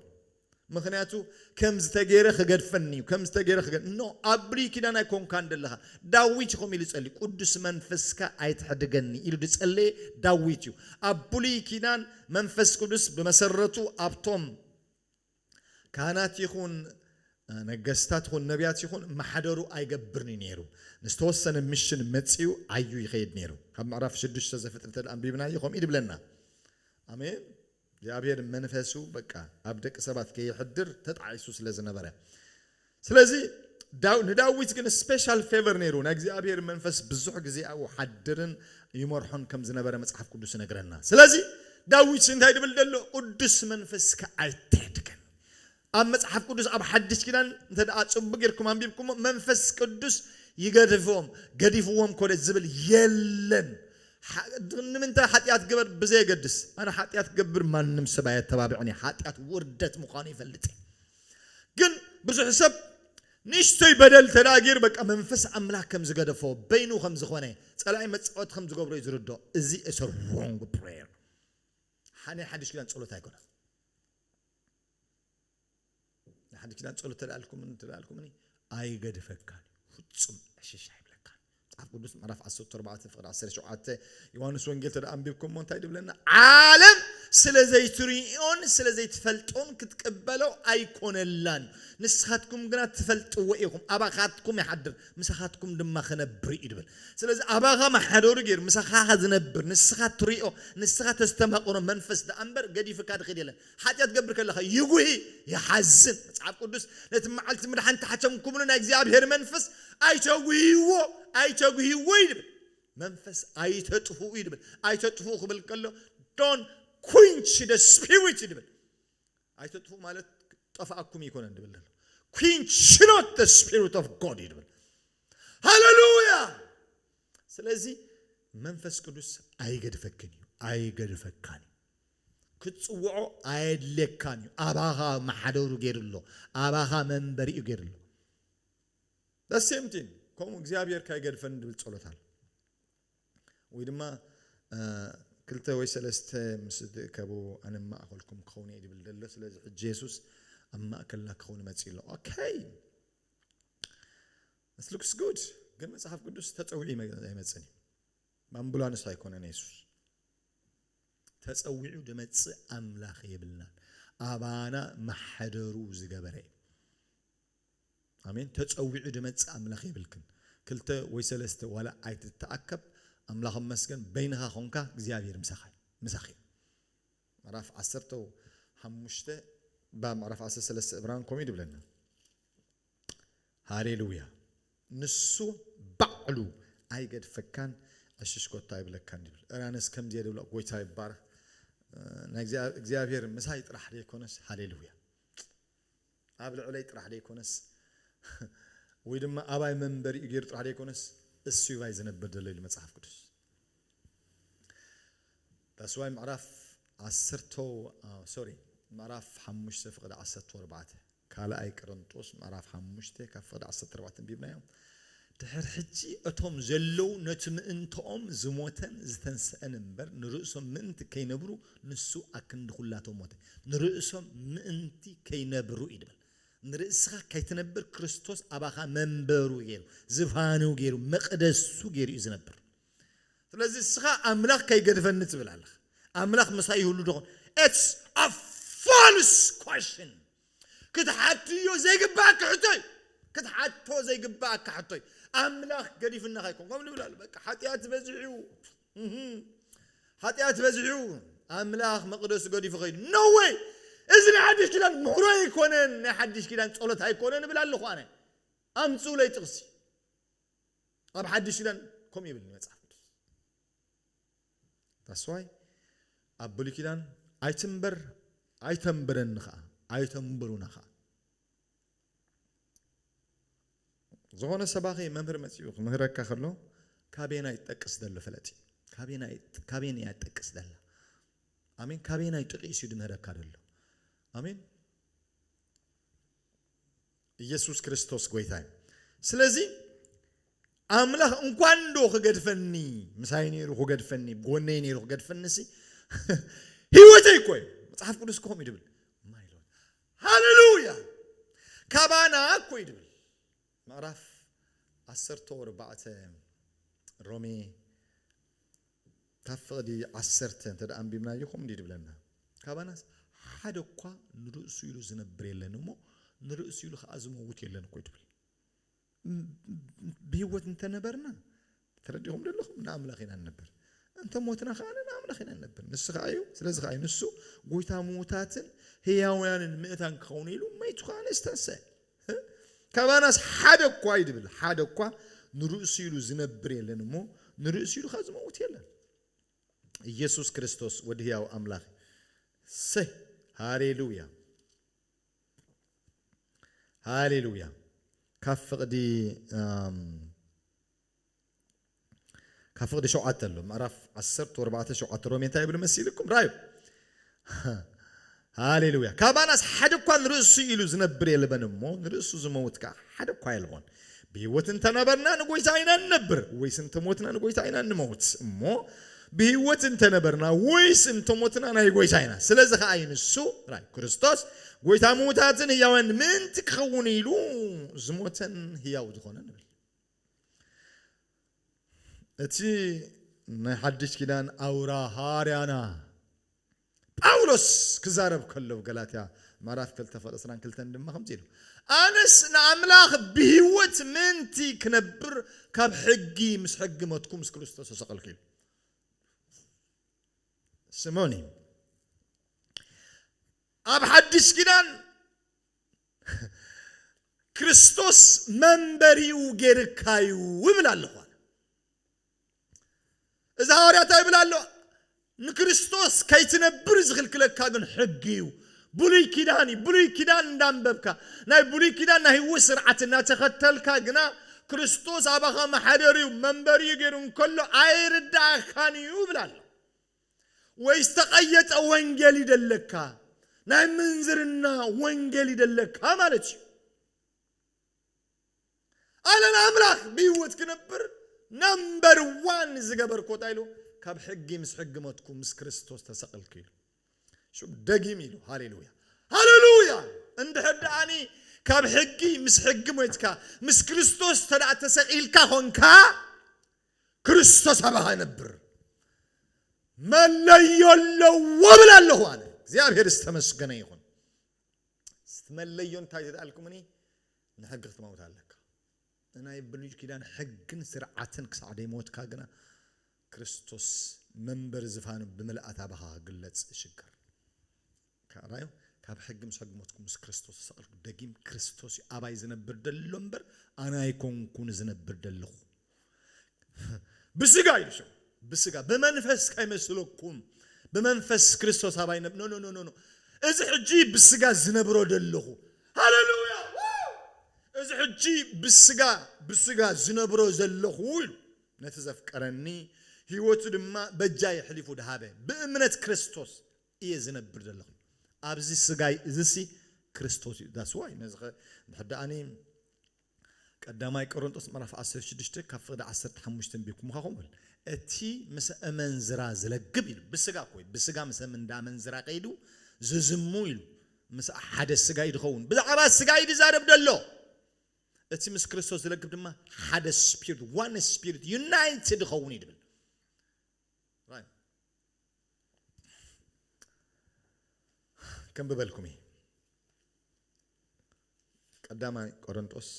ምክንያቱ ከምዝተ ገይረ ክገድፈኒ እዩ ከምዝተ ገይረ ክገ ን ኣብ ብሉይ ኪዳን ኣይኮንካን ደለካ ዳዊት ከምኡ ኢሉ ጸልዩ ቁዱስ መንፈስካ ኣይትሕድገኒ ኢሉ ድጸለየ ዳዊት እዩ ኣብ ብሉይ ኪዳን መንፈስ ቅዱስ ብመሰረቱ ኣብቶም ካህናት ይኩን ነገስታት ይኩን ነብያት ይኩን ማሕደሩ ኣይገብርን እዩ ነይሩ ንዝተወሰነ ምሽን መጺኡ ዓዩ ይከይድ ነይሩ ካብ ምዕራፍ ሽዱሽተ ዘፍጥርተ ኣንቢብናዮ ከምኡ ድብለና ኣሜን እግዚኣብሔር መንፈሱ በቃ ኣብ ደቂ ሰባት ከየሕድር ተጣዒሱ ስለ ዝነበረ ስለዚ ንዳዊት ግን ስፔሻል ፌቨር ነይሩ ናይ እግዚኣብሔር መንፈስ ብዙሕ ግዜ ኣብኡ ሓድርን ይመርሖን ከም ዝነበረ መጽሓፍ ቅዱስ ይነግረና ስለዚ ዳዊት እንታይ ድብል ደሎ ቅዱስ መንፈስካ ኣይትሕድገን ኣብ መጽሓፍ ቅዱስ ኣብ ሓድሽ ኪዳን እንተደኣ ጽቡቅ ጌርኩም ኣንቢብኩሞ መንፈስ ቅዱስ ይገድፎም ገዲፍዎም ኮነ ዝብል የለን ሓ ንምንታይ ሓጥያት ግበር ብዘየገድስ ኣነ ሓጥያት ክገብር ማንም ሰብ ኣየተባብዕን እየ ሓጥያት ውርደት ምዃኑ ይፈልጥ እየ ግን ብዙሕ ሰብ ንእሽቶይ በደል እንተደኣ ጌሩ በቃ መንፈስ ኣምላኽ ከም ዝገደፎ በይኑ ከም ዝኾነ ጸላኢ መጻወቲ ከም ዝገብሮ እዩ ዝርድኦ እዚ እሰ ሮንግ ፕሬየር ናይ ሓድሽ ኪዳን ጸሎት ኣይኮነን ንሓዲ ኪዳን ጸሎት ተላልኩምን ተላልኩምን ኣይገድፈካን ፍጹም ዕሽሽ ኣይብለካን መጽሓፍ ቅዱስ ምዕራፍ 14 ፍቅሪ 17 ዮሐንስ ወንጌል ተደኣ ኣንቢብኩሞ እንታይ ድብለና ዓለም ስለ ዘይትርእዮን ስለ ዘይትፈልጦን ክትቅበሎ ኣይኮነላን እዩ ንስኻትኩም ግና ትፈልጥዎ ኢኹም ኣባኻትኩም ይሓድር ምሳኻትኩም ድማ ክነብር እዩ ድብል ስለዚ ኣባኻ መሓደሩ ገይሩ ምሳኻ ዝነብር ንስኻ ትሪኦ ንስኻ ተስተማቕሮ መንፈስ ደኣ እምበር ገዲፍካ ድኽድ የለን ሓጢኣት ክትገብር ከለኻ ይጉሂ፣ ይሓዝን። መጽሓፍ ቅዱስ ነቲ መዓልቲ ምድሓን እተሓትምኩምሉ ናይ እግዚኣብሄር መንፈስ ኣይተጉህይዎ፣ ኣይተጉህይዎ እዩ ዝብል። መንፈስ ኣይተጥፍኡ እዩ ዝብል። ኣይተጥፍኡ ክብል ከሎ ዶን ኩንች ደ ስፒሪት እዩ ዝብል። ኣይተጥፍኡ ማለት ጠፍኣኩም ኣይኮነን ዝብል ዘሎ። ኩንች ኖት ደ ስፒሪት ኦፍ ጎድ እዩ ዝብል። ሃለሉያ! ስለዚ መንፈስ ቅዱስ ኣይገድፈክን እዩ፣ ኣይገድፈካን እዩ። ክትጽውዖ ኣየድልየካን እዩ ኣባኻ መሓደሩ ጌሩ ኣሎ ኣባኻ መንበሪኡ ጌሩ ኣሎ the same thing ከምኡ እግዚኣብሔር ካይገድፈኒ ድብል ጸሎት ኣሎ ወይ ድማ ክልተ ወይ ሰለስተ ምስ ዝትእከቡ ኣነ ማእኸልኩም ክኸውን እየ ድብል ደሎ ስለዚ ሕጂ የሱስ ኣብ ማእከልና ክኸውን መጽእ ኣሎ ኦኬ ስ ሉክስ ጉድ ግን መጽሓፍ ቅዱስ ተጸዊዑ ኣይመጽን እዩ ብኣምቡላንስ ኣይኮነን የሱስ ተጸዊዑ ድመጽእ ኣምላኽ የብልናን ኣባና ማሕደሩ ዝገበረ እዩ ኣሜን ተጸዊዑ ድመጽእ ኣምላኽ የብልክን ክልተ ወይ ሰለስተ ዋላ ኣይትተኣከብ ኣምላኽ መስገን በይንኻ ኮንካ እግዚኣብሔር ምሳኻ ምሳኺ እዩ ምዕራፍ ዓሰርተ ሓሙሽተ ብ ምዕራፍ ዓሰርተ ሰለስተ እብራን ከምኡ ድብለና ሃሌሉያ ንሱ ባዕሉ ኣይገድፈካን ዕሽሽ ኮታ ይብለካን ይብል እረ ኣነስ ከምዚ እየ ድብሎ ጎይታ ይባረክ ናይ እግዚኣብሔር ምሳይ ጥራሕ ዘይኮነስ ሃሌሉያ ኣብ ልዕለይ ጥራሕ ዘይኮነስ ወይ ድማ ኣባይ መንበሪኡ ገይሩ ጥራሕ ዘይኮነስ እሱ ባይ ዝነብር ዘሎ ኢሉ መጽሓፍ ቅዱስ ዳስዋይ ምዕራፍ ዓሰርተ ሶሪ ምዕራፍ ሓሙሽተ ፍቅዲ ዓሰርተ ኣርባዕተ ካልኣይ ቅርንጦስ ምዕራፍ ሓሙሽተ ካብ ፍቕዲ ዓሰርተ ኣርባዕተ ኣንቢብናዮ ድሕር ሕጂ እቶም ዘለዉ ነቲ ምእንትኦም ዝሞተን ዝተንስእን እምበር ንርእሶም ምእንቲ ከይነብሩ ንሱ ኣክንዲ ኩላቶም ሞተ ንርእሶም ምእንቲ ከይነብሩ እዩ ድብል ንርእስኻ ከይትነብር ክርስቶስ ኣባኻ መንበሩ ገይሩ ዝፋኑ ገይሩ መቕደሱ ገይሩ እዩ ዝነብር ስለዚ እስኻ ኣምላኽ ከይገድፈኒ ትብል ኣለኻ ኣምላኽ ምሳይ ይህሉ ዶ ኤትስ ኣ ፋልስ ኳሽን ክትሓትዮ ዘይግባኣካ ሕቶ እዩ ክትሓቶ ዘይግባኣካ ሕቶ እዩ ኣምላኽ ገዲፍናኻ ይኮን ከምኡ ንብል ኣሎ በቃ ሓጢኣት በዚሑ እዩ ሓጢኣት በዚሑ እዩ ኣምላኽ መቕደሱ ገዲፉ ከይዱ ኖ ወይ እዚ ናይ ሓድሽ ኪዳን ምሕሮ ኣይኮነን ናይ ሓድሽ ኪዳን ጸሎት ኣይኮነ ንብል ኣለኹ ኣነ ኣምፅኡለይ ጥቕሲ ኣብ ሓድሽ ኪዳን ከምኡ የብልን መጽሓፍ ቅዱስ ታስዋይ ኣብ ብሉይ ኪዳን ኣይትንበር ኣይተንብረኒ ከዓ ኣይተንብሩና ከዓ ዝኾነ ሰባኺ መምህር መፂኡ ክምህረካ ከሎ ካበየና ይጠቅስ ዘሎ ፈለጥ ካበየን እያ ትጠቅስ ዘላ ኣሜን ካበየና ይጥቂስ እዩ ድምህረካ ዘሎ ኣሜን ኢየሱስ ክርስቶስ ጎይታ እዩ ስለዚ ኣምላኽ እንኳን ዶ ክገድፈኒ ምሳይ ነይሩ ክገድፈኒ ጎነይ ነይሩ ክገድፈኒ ሲ ህይወተይ እኮ እዩ መፅሓፍ ቅዱስ ከምኡ ይድብል ማይሎት ሃሌሉያ ካባና እኮ ይድብል ምዕራፍ ዓሰርተ ወርባዕተ ሮሜ ካብ ፍቕዲ ዓሰርተ እንተ ደኣ ኣንቢብናዮ ከምኡ እንድዩ ድብለና፣ ካባናስ ሓደ እኳ ንርእሱ ኢሉ ዝነብር የለን እሞ፣ ንርእሱ ኢሉ ኸኣ ዝመውት የለን እኮ እዩ ድብል። ብህይወት እንተ ነበርና፣ ተረዲእኹምዶ ኣለኹም? ንኣምላኽ ኢና እንነብር፣ እንተ ሞትና ኸኣ ንኣምላኽ ኢና እንነብር። ንሱ ኸኣ እዩ፣ ስለዚ ኸኣ እዩ ንሱ ጐይታ ምዉታትን ህያውያንን ምእታን ክኸውን ኢሉ መይቱ ኸኣ ነዝተንስአ። ካባናስ ሓደ እኳ ይድብል ሓደ እኳ ንርእሱ ኢሉ ዝነብር የለን እሞ ንርእሱ ኢሉ ኸ ዝመውት የለን ኢየሱስ ክርስቶስ ወዲ ህያው ኣምላኽ ሰይ ሃሌሉያ ሃሌሉያ ካብ ፍቕዲ ካብ ፍቕዲ ሸውዓተ ኣሎ ምዕራፍ ዓሰርተ ወርባዕተ ሸውዓተ ሮሜ እንታይ ይብሉ መሲልኩም ራዩ ሃሌሉያ ካባናስ ሓደ እኳ ንርእሱ ኢሉ ዝነብር የልበን እሞ ንርእሱ ዝመውት ከዓ ሓደ እኳ የልቦን ብህይወት እንተነበርና ንጎይታ ኢና ንነብር ወይስ እንተሞትና ንጎይታ ኢና ንመውት እሞ ብህይወት እንተነበርና ወይስ እንተሞትና ናይ ጎይታ ኢና ስለዚ ከዓ ይንሱ ናይ ክርስቶስ ጎይታ ምውታትን ህያውያን ምእንቲ ክኸውን ኢሉ ዝሞተን ህያው ዝኾነ ንብል እቲ ናይ ሓድሽ ኪዳን ኣውራ ሃዋርያና ጳውሎስ ክዛረብ ከሎ ኣብ ገላትያ ምዕራፍ ክልተ ቁጽሪ ዕስራን ክልተን ድማ ከምዚ ኢሉ ኣነስ ንኣምላኽ ብህይወት ምእንቲ ክነብር ካብ ሕጊ ምስ ሕጊ ሞትኩ ምስ ክርስቶስ ተሰቐልኩ ኢሉ ስምዑኒ ኣብ ሓድሽ ኪዳን ክርስቶስ መንበሪኡ ጌርካ እዩ እብል ኣለኹ ኣነ እዚ ሃዋርያ እንታይ ይብል ኣሎ ንክርስቶስ ከይትነብር ዝኽልክለካ ግን ሕጊ እዩ ብሉይ ኪዳን እዩ ብሉይ ኪዳን እንዳንበብካ ናይ ብሉይ ኪዳን ናይ ህይወት ስርዓት እናተኸተልካ ግና ክርስቶስ ኣባኻ መሓደሪኡ መንበሪኡ ገይሩ እንከሎ ኣይርዳእኻን እዩ ይብል ኣሎ ወይ ዝተቐየጸ ወንጌል ይደለካ፣ ናይ ምንዝርና ወንጌል ይደለካ ማለት እዩ። ኣነ ንኣምላኽ ብህይወት ክነብር ናምበር ዋን ዝገበርኮ እንታይ ኢሉ ካብ ሕጊ ምስ ሕጊ መትኩ ምስ ክርስቶስ ተሰቕልኩ ኢሉ ሽም ደጊም ኢሉ ሃሌሉያ ሃሌሉያ እንድሕር ደኣኒ ካብ ሕጊ ምስ ሕጊ ሞትካ ምስ ክርስቶስ ተደኣ ተሰቒልካ ኾንካ ክርስቶስ ኣባኻ ይነብር መለዮ ኣለዎ ብል ኣለኹ ኣነ እግዚኣብሔር ዝተመስገነ ይኹን ስትመለዮ እንታይ ተደኣልኩምኒ ንሕጊ ክትመውት ኣለካ ንናይ ብሉይ ኪዳን ሕግን ስርዓትን ክሳዕ ደይሞትካ ግና ክርስቶስ መንበሪ ዝፋኑ ብምልኣት ኣባኻ ክግለጽ እሽገር ከኣ ራዩ ካብ ሕጊ ምስ ሕጊ ሞትኩ ምስ ክርስቶስ ተሰቅልኩ ደጊም ክርስቶስ እዩ ኣባይ ዝነብር ደሎ እምበር ኣነ ኣይኮንኩን ዝነብር ደለኹ ብስጋ እዩ ሰው ብስጋ ብመንፈስ ከይመስለኩም ብመንፈስ ክርስቶስ ኣባይ ነብ ኖ ኖ ኖ እዚ ሕጂ ብስጋ ዝነብሮ ደለኹ ሃሌሉያ እዚ ሕጂ ብስጋ ብስጋ ዝነብሮ ዘለኹ ኢሉ ነቲ ዘፍቀረኒ ህይወቱ ድማ በጃ የሕሊፉ ድሃበ ብእምነት ክርስቶስ እየ ዝነብር ዘለኹ ኣብዚ ስጋይ እዝሲ ክርስቶስ እዩ ዳስ ዋይ ነዚ ከ ድሕር ደኣኒ ቀዳማይ ቆሮንጦስ ምዕራፍ 16 ካብ ፍቕዲ 15 እንቢብኩምኻ ከምኡ ብል እቲ ምስ እመንዝራ ዝለግብ ኢሉ ብስጋ እኮ ብስጋ ምስ እንዳ ኣመንዝራ ከይዱ ዝዝሙ ኢሉ ምስ ሓደ ስጋ እዩ ዝኸውን ብዛዕባ ስጋ እዩ ዝዛረብ ዘሎ እቲ ምስ ክርስቶስ ዝለግብ ድማ ሓደ ስፒሪት ዋን ስፒሪት ዩናይትድ ይኸውን እዩ ዝብል ከንብበልኩም እየ ቀዳማይ ቆረንጦስ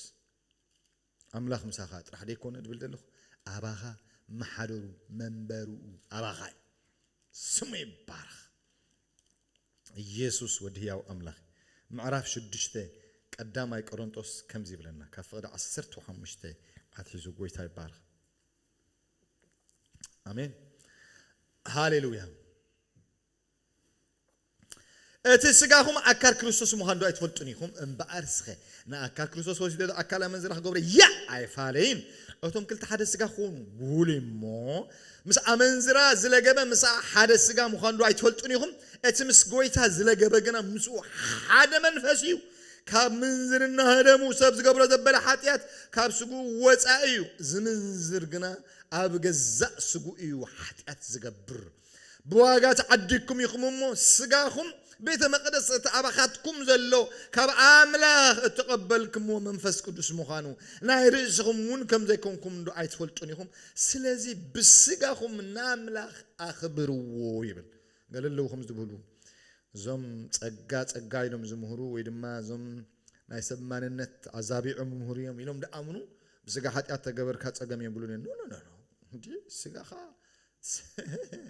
ኣምላኽ ምሳኻ ጥራሕ ደይኮነ ድብል ዘለኹ ኣባኻ መሓደሩ መንበርኡ ኣባኻ እዩ ስሙ ይባረኽ ኢየሱስ ወዲ ህያው ኣምላኽ ምዕራፍ ሽዱሽተ ቀዳማይ ቆረንጦስ ከምዚ ይብለና ካብ ፍቕዲ ዓሰርተ ሓሙሽተ ኣትሒዙ ጎይታ ይባረኽ ኣሜን ሃሌሉያ እቲ ስጋኹም ኣካል ክርስቶስ ምዃኑ ዶ ኣይትፈልጡን ኢኹም እምበኣር ስኸ ንኣካል ክርስቶስ ወሲዶ ዶ ኣካል ኣመንዝራ ክገብሮ ያ ኣይፋለይን እቶም ክልተ ሓደ ስጋ ክኾኑ ብውሉ እሞ ምስ ኣመንዝራ ዝለገበ ምስኣ ሓደ ስጋ ምዃኑ ዶ ኣይትፈልጡን ኢኹም እቲ ምስ ጎይታ ዝለገበ ግና ምስኡ ሓደ መንፈስ እዩ ካብ ምንዝርና ህደሙ፣ ሰብ ዝገብሮ ዘበለ ሓጢኣት ካብ ስግኡ ወጻኢ እዩ፣ ዝምንዝር ግና ኣብ ገዛእ ስግኡ እዩ ሓጢኣት ዝገብር። ብዋጋ ተዓዲግኩም ኢኹም እሞ፣ ስጋኹም ቤተ መቕደስ እቲ ኣባኻትኩም ዘሎ ካብ ኣምላኽ እተቐበልክምዎ መንፈስ ቅዱስ ምዃኑ፣ ናይ ርእስኹም እውን ከም ዘይኮንኩምዶ ኣይትፈልጡን ኢኹም? ስለዚ ብስጋኹም ንኣምላኽ ኣኽብርዎ ይብል። ገለ ኣለዉ ከምዚ ዝብሉ እዞም ጸጋ ጸጋ ኢሎም ዝምህሩ ወይ ድማ እዞም ናይ ሰብ ማንነት ኣዛቢዖም ይምህሩ እዮም ኢሎም ድኣምኑ ብስጋ ሓጢኣት ተገበርካ ጸገም የብሉን እዮም ኖኖኖኖ እንዲ ስጋኻ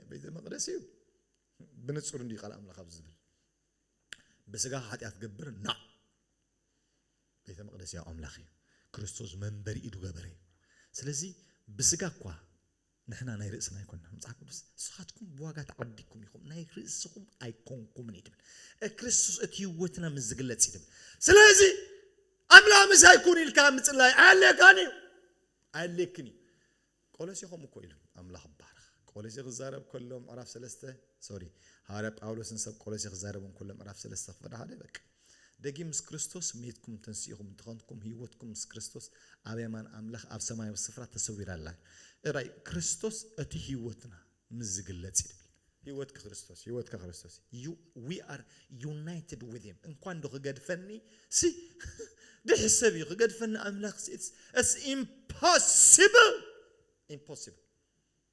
ቤተ መቅደስ እዩ ብንጹር እንዲ ቃል ኣምላኽ ኣብ ዝብል ብስጋኻ ሓጢኣት ገብር ና ቤተ መቅደስ ያው ኣምላኽ እዩ ክርስቶስ መንበሪ ኢዱ ገበረ እዩ ስለዚ ብስጋ እኳ ንሕና ናይ ርእስና ኣይኮንናን መጽሓፍ ቅዱስ ንስኻትኩም ብዋጋ ተዓዲግኩም ኢኹም ናይ ርእስኹም ኣይኮንኩምን እዩ ትብል ክርስቶስ እቲ ህይወትና ምስ ዝግለጽ እዩ ትብል ስለዚ ኣምላኽ ምሳይ ኩን ኢልካ ምጽላይ ኣየድልየካን እዩ ኣየድልየክን እዩ ቆሎሴ ከምኡ እኮ ኢሉ ኣምላኽ ባረኽ ቆሎሴ ክዛረብ ከሎ ምዕራፍ ሰለስተ ሶሪ ሃዋርያ ጳውሎስን ሰብ ቆሎሴ ክዛረቡ ከሎ ምዕራፍ ሰለስተ ክፍል ሓደ በቃ ደጊም ምስ ክርስቶስ መይትኩም ተንሲእኹም እንተኾንኩም ህይወትኩም ምስ ክርስቶስ ኣብ የማን ኣምላኽ ኣብ ሰማያዊ ስፍራ ተሰዊራ ኣላ። እራይ ክርስቶስ እቲ ህይወትና ምስ ዝግለጽ እዩ ድብል። ህይወትኪ ክርስቶስ እዩ። ህይወትካ ክርስቶስ እዩ። You we are united with him እንኳን ዶ ክገድፈኒ ሲ ደሒ ሰብ እዩ ክገድፈኒ ኣምላኽ ሲ it's it's impossible impossible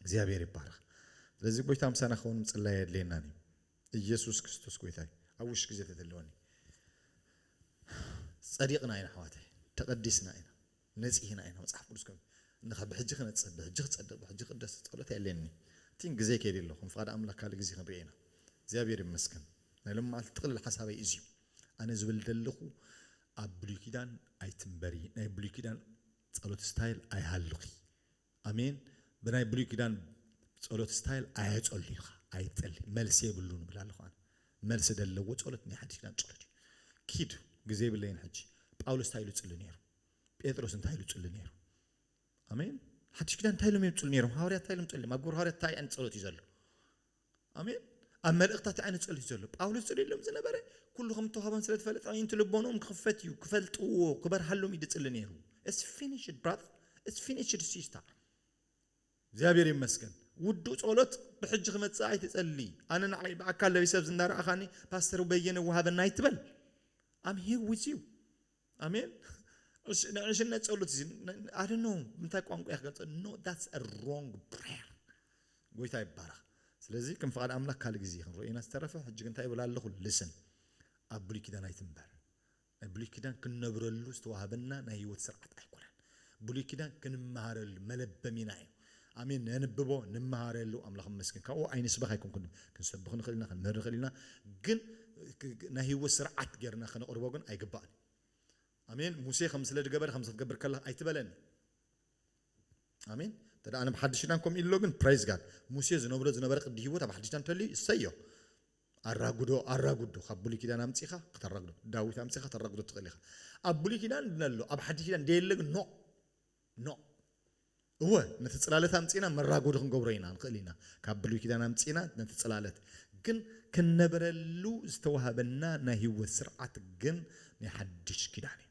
እግዚኣብሔር ይባረኽ ስለዚ ጎይታ ምሳና ክኸውን ምጽላይ የድልየናን እዩ ኢየሱስ ክርስቶስ ጎይታ እዩ ኣብ ውሽ ግዜ ተተለወኒ ጸዲቕና ኢና ኣሕዋተይ ተቐዲስና ኢና ነጺህና ኢና መጽሓፍ ቅዱስ ከም እንኻ ብሕጂ ክነጽህ ብሕጂ ክጸድቕ ብሕጂ ክቅደስ ጸሎት የድልየኒ ቲን ግዜ ከይዲ ኣሎ ከም ፍቓድ ኣምላክ ካልእ ግዜ ክንሪኦ ኢና እግዚኣብሔር ይመስገን ናይ ሎም መዓልቲ ጥቕልል ሓሳበይ እዚዩ ኣነ ዝብል ደለኹ ኣብ ብሉይ ኪዳን ኣይትንበሪ ናይ ብሉይ ኪዳን ጸሎት ስታይል ኣይሃልኺ ኣሜን ብናይ ብሉይ ኪዳን ጸሎት ስታይል ኣየጸሉ ኢኻ ኣይትጸሊ መልሲ የብሉን እብል ኣለኹ ኣነ መልሲ ደለዎ ጸሎት ናይ ሓድሽ ኪዳን ጸሎት እዩ ኪድ ግዜ የብለይን ሕጂ ጳውሎስ እንታይ ኢሉ ጽሊ ነይሩ ጴጥሮስ እንታይ ኢሉ ጽሊ ነይሩ ኣሜን ሓድሽ ኪዳን እንታይ ኢሎም እዮም ጽሉ ነይሮም ሃዋርያት እንታይ ኢሎም ጸልዮም ኣብ ግብሪ ሃዋርያት እንታይ ዓይነት ጸሎት እዩ ዘሎ ኣሜን ኣብ መልእኽታት ዓይነ ጸልዩ ዘሎ ጳውሎስ ጽልየሎም ዝነበረ ኩሉ ከም ተዋህቦን ስለ ዝፈለጠ ኣዒንቲ ልቦኖም ክኽፈት እዩ ክፈልጥዎ ክበርሃሎም እዩ ድጽሊ ነይሩ እስ ፊኒሽድ ብራዘር እስ ፊኒሽድ ሲስታ እግዚኣብሔር ይመስገን ውዱእ ጸሎት ብሕጂ ክመጽእ ኣይትጸሊ ኣነ ንዓይ ብኣካል ለቢሰ ኣብዚ እንዳረኣኻኒ ፓስተር በየነ ወሃበና ኣይትበል ኣም ሂር ዊዝ ዩ ኣሜን ናይ ዕሽነት ጸሎት እዚ ኣደ ኖ ምንታይ ቋንቋ እየ ክገልጸ ኖ ዳትስ ሮንግ ፕሬየር ጎይታ ይባረኽ ስለዚ ከም ፍቓድ ኣምላኽ ካልእ ግዜ ክንሪኦ ኢና ዝተረፈ ሕጂ ግን እንታይ ይብል ኣለኹ ልስን ኣብ ብሉይ ኪዳን ኣይትንበር ናይ ብሉይ ኪዳን ክንነብረሉ ዝተዋህበና ናይ ህይወት ስርዓት ኣይኮነን ብሉይ ኪዳን ክንመሃረሉ መለበሚና እዩ ኣሜን ነንብቦ ንመሃረሉ ኣምላኽ ይመስገን ካብኡ ኣይንስበኽ ኣይኮንኩን ክንሰብኽ ንኽእል ኢና ክንምህር ንኽእል ኢና ግን ናይ ህይወት ስርዓት ጌርና ከነቕርቦ ግን ኣይግባእን እዩ ኣሜን ሙሴ ከም ስለ ድገበረ ከምዚ ክትገብር ከለኻ ኣይትበለኒ ኣሜን እንተ ኣብ ሓድሽ ኪዳን ከምኡ ኢሉ ኣሎ ግን ፕራይዝ ጋድ ሙሴ ዝነብሮ ዝነበረ ቅዲ ህይወት ኣብ ሓድሽ ኪዳን እንተልዩ እሰዮ ኣራጉዶ ኣራጉዶ ካብ ብሉይ ኪዳን ኣምጺኻ ከተራጉዶ ዳዊት ኣምጺኻ ተራጉዶ ትኽእል ኢኻ ኣብ ብሉይ ኪዳን ድነ ኣሎ ኣብ ሓድሽ ኪዳን ደየለ ግን ኖእ ኖእ እወ ነቲ ጽላለት ኣምጺና መራጎዲ ክንገብሮ ኢና ንኽእል ኢና ካብ ብሉይ ኪዳን ኣምጺና ነቲ ጽላለት ግን ክንነብረሉ ዝተዋህበና ናይ ህይወት ስርዓት ግን ናይ ሓድሽ ኪዳን እዩ